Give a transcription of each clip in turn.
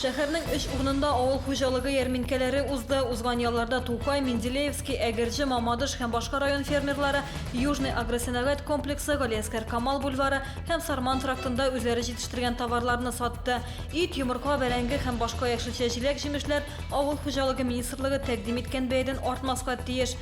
Шәһәрнең өч урынында авыл хуҗалыгы ярминкәләре узды. Узган ялларда Тукай, Менделеевский, Әгерҗе, Мамадыш һәм башка район фермерлары Южный агросәнәгать комплексы, Галиәскәр Камал бульвары һәм Сарман трактында үзләре җитештергән товарларны сатты. Ит, йомырка, бәрәңге һәм башка яшелчә-җиләк-җимешләр авыл хуҗалыгы министрлыгы тәкъдим иткән бәядән артмаска тиеш.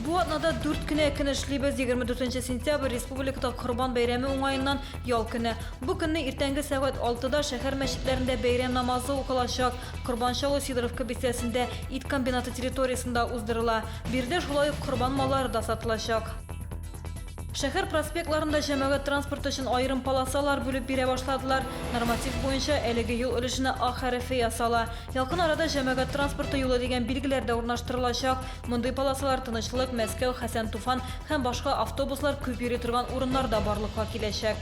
Бу атнада дүрт кенә көн эшлибез. 24 сентябрь республикада Корбан бәйрәме уңаеннан ял көне. Бу көнне иртәнге сәгать 6-да шәһәр мәчетләрендә бәйрәм намазы укылачак. Корбан чалу Сидоровка бистәсендә ит комбинаты территориясендә уздырыла. Биредә шулай ук корбан маллары да сатылачак. Шәһәр проспектларында җәмәгать транспорты өчен аерым полосалар бүлеп бирә башладылар. Норматив буенча әлеге юл өлешенә А хәрефе ясала. Якын арада җәмәгать транспорты юлы дигән билгеләр дә урнаштырылачак. Мондый полосалар Тынычлык, Мәскәү, Хәсән Туфан һәм башка автобуслар күп йөри торган урыннарда барлыкка киләчәк.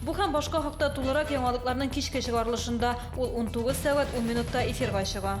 Бу һәм башка хакта тулырак яңалыкларның кичке чыгарылышында. Ул унтугыз сәгать ун минутта эфирга чыга.